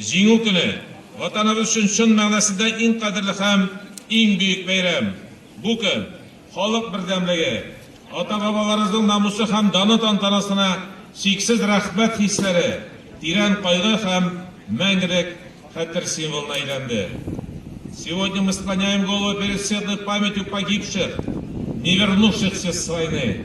Җиңү көне, Ватаныбыз өчен чын мәгънәсендә иң кадерле һәм иң бөек бәйрәм. Бу көн, халык бердәмлеге, ата-бабаларыбызның намусы һәм даны тантанасына чиксез рәхмәт хисләре, тирән кайгы һәм мәңгелек хәтер символына әйләнде. Сегодня мы склоняем головы перед светлой памятью погибших, невернувшихся с войны.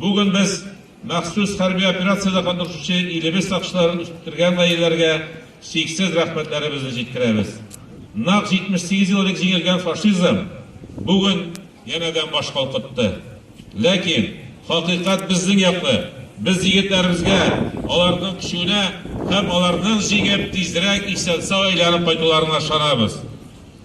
Бүген без махсус хәрби операциядә катнашучы илебез сакчыларын үстергән гаиләләргә чиксез рәхмәтләребезне җиткерәбез. Нәкъ 78 ел элек җиңелгән фашизм бүген янәдән баш калкытты. Ләкин хакыйкать безнең яклы, без егетләребезгә аларның көченә һәм аларның җиңеп, тизрәк исән-сау әйләнеп кайтуларына ышанабыз.